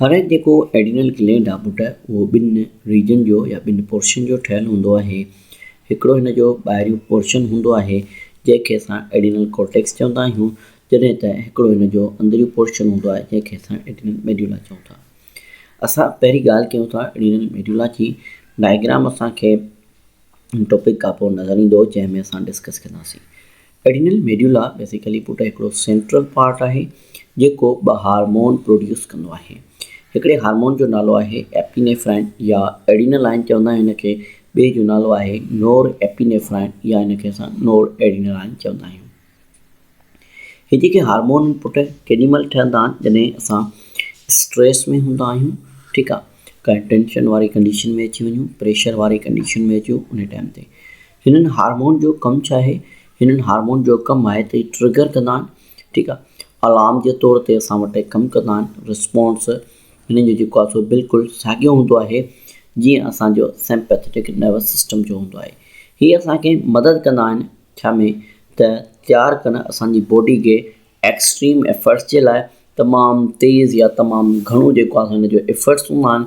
هارائيڊ جيڪو adrenal gland آ پٽ اهو ٻن ريجن جو يا ٻن پورشن جو ٺهيل هوندو آهي. هڪڙو هن جو ٻاهريون پورشن هوندو آهي جنهن کي اسان ايڊرينل ڪورٽيڪس چوندا آهيون جڏهن ته هڪڙو هن جو اندريون پورشن هوندو آهي جنهن کي اسان ايڊرينل ميڊيولا چئون ٿا. اسان پهرين ڳالهه ڪيون ٿا ايڊرينل ميڊيولا جي ڊائگرام اسان کي ٽاپڪ کان پوء نظر ايندو جنهن ۾ اسان ڊسڪس ڪنداسين. ايڊينل ميڊيولا بيسيڪلي پٽ هڪڙو سينٽرل پارٽ آهي جيڪو ٻه هارمون پروڊيوس ڪندو آهي. هڪڙي هارمون جو نالو آهي ايپينيفرائن يا ايڊينلائن چوندا آهيون هن کي، ٻئي جو نالو آهي نور ايپينيفرائن يا هن کي اسان نور ايڊينلائن چوندا آهيون. هي جيڪي هارمون آهن پٽ ڪيڏي مهل ٺهندا آهن جڏهن اسان اسٽريس ۾ هوندا آهيون ٺيڪ آهي ڪنهن ٽينشن واري ڪنڊيشن ۾ اچي وڃون پريشر واري ڪنڊيشن ۾ اچون ان ٽائيم تي هنن هارمون جو ڪم ڇا آهي؟ هنن هارمون جو ڪم آهي ته هي ٽرگر ڪندا آهن ٺيڪ آهي الارم جي طور تي اسان وٽ هي ڪم ڪندا آهن رسپانس هنن جو جيڪو آهي سو بلڪل ساڳيو هوندو آهي جيئن اسان جو سيمپيٿيٽڪ نروس سسٽم جو هوندو آهي هي اسان کي مدد ڪندا آهن ڇا ۾ ته تيار ڪن اسان جي باڊي کي ايڪسٽريم ايفرٽس جي لاء تمام تيز يا تمام گهڻو جيڪو آهي سو هن جو ايفرٽس هوندا آهن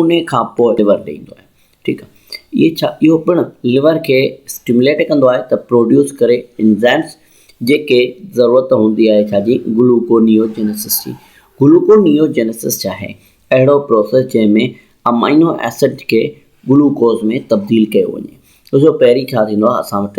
ان کان پوء لور ڏئي ايندو آهي ٺيڪ آهي اهي ڇا اهو پڻ لور کي اسٽيموليٽ ڪندو آهي ته پروڊيوس ڪري انزائمس جيڪي ضرورت هوندي آهي ڇا جي گلوڪونيوجينيسس جي گلوڪونيوجينيسس ڇا آهي اهڙو پروسيس جنهن ۾ امائنو ايسڊ کي گلوڪوز ۾ تبديل ڪيو وڃي ڏسو پهرين ڇا ٿيندو آهي اسان وٽ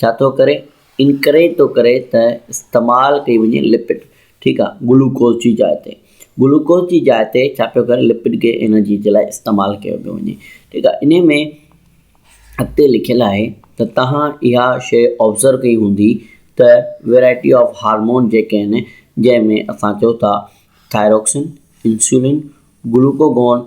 ڇا ٿو ڪري؟ انڪريج ٿو ڪري ته استعمال ڪئي وڃي لپڊ ٺيڪ آ گلوڪوز جي جاء تي گلوڪوز جي جاء تي ڇا پيو ڪري لپڊ کي انرجي جي لاء استعمال ڪيو پيو وڃي ٺيڪ آ انهي ۾ اڳتي لکيل آهي ته توهان اها شيء آبزرو ڪئي هوندي ته ويرائٽي آف هارمون جيڪي آهن جنهن ۾ اسان چئو ٿا ٿائروڪسن انسولين گلوڪوگون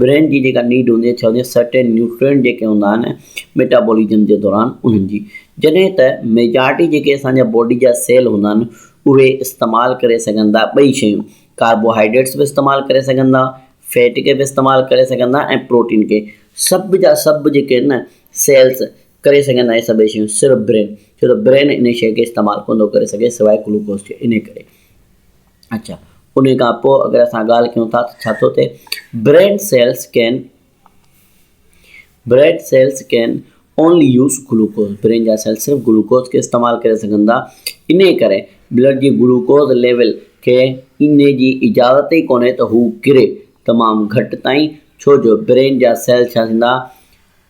برين جي جيڪا نيڊ هوندي آهي ڇاڪاڻ ته سرٽين نيوٽرينٽ جيڪي هوندا آهن ميٽابولزم جي دوران انهن جي جڏهن ته ميجارٽي جيڪي اسان جا باڊي جا سيل هوندا آهن اهي استعمال ڪري سگهن ٿا ٻئي شيون ڪاربوهائيڊريٽس به استعمال ڪري سگهن ٿا فيٽ کي به استعمال ڪري سگهن ٿا ۽ پروٽين کي سڀ جا سڀ جيڪي آهن نه سيلز ڪري سگهن ٿا اهي سڀئي شيون صرف برين ڇو ته برين ان شيء کي استعمال ڪو نٿو ڪري سگهي سواء گلوڪوز جي انهي ڪري اچا انهي کان پوء اگر اسان ڳالهه ڪيون ٿا ته ڇا ٿو ٿئي bread cells can bread cells can only use glucose brain جا سيل صرف گلوڪوز کي استعمال ڪري سگهن ٿا انهي ڪري بلڊ جي گلوڪوز ليول کي انهي جي اجازت ئي ڪونهي ته هو ڪري تمام گهٽ تائين ڇو جو برين جا سيل ڇا ٿيندا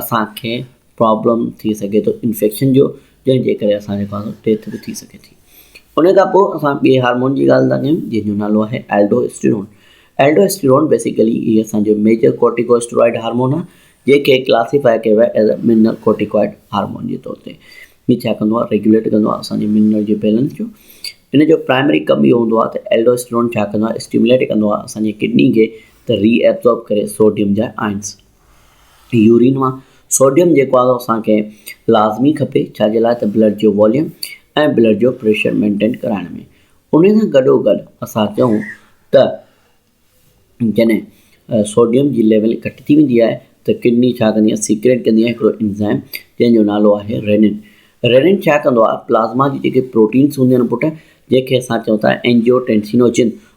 اسان کي پرابلم ٿي سگهي ٿو انفيڪشن جو جنهن جي ڪري اسان جي پاڻ ڊيٿ به ٿي سگهي ٿي ان کان پوء اسان ٻي هارمون جي ڳالهه ٿا ڪيون جنهن جو نالو آهي ايلڊوسٽيرون ايلڊوسٽيرون بيسيڪلي هي اسان جو ميجر ڪورٽيڪوسٽرائڊ هارمون آهي جيڪي ڪلاسيفائي ڪيو ويو as a mineralocorticoid hormone جي طور تي هي ڇا ڪندو آهي ريگوليٽ ڪندو آهي اسان جي منرل جي بيلنس جو ان جو پرائمري ڪم اهو هوندو آهي ته ايلڊوسٽيرون ڇا ڪندو آهي اسٽيموليٽ ڪندو آهي اسان جي ڪڊني کي ته ري ايبزورب ڪري سوڊيم جا آئنس يورين مان سوڊيم جيڪو آهي اسان کي لازمي کپي ڇاجي لاء ته بلڊ جو واليوم ۽ بلڊ جو پريشر مينٽين ڪرائڻ ۾ ان سان گڏو گڏ اسان چئون ته جڏهن سوڊيم جي ليول گهٽ ٿي ويندي آهي ته ڪڊني ڇا ڪندي آهي سيڪريٽ ڪندي آهي هڪڙو انزائم جنهن جو نالو آهي رينين رينين ڇا ڪندو آهي پلازما جي جيڪي پروٽينس هونديون آهن پٽ جنهن کي اسان چئون ٿا اينجيو ٽينسينوجن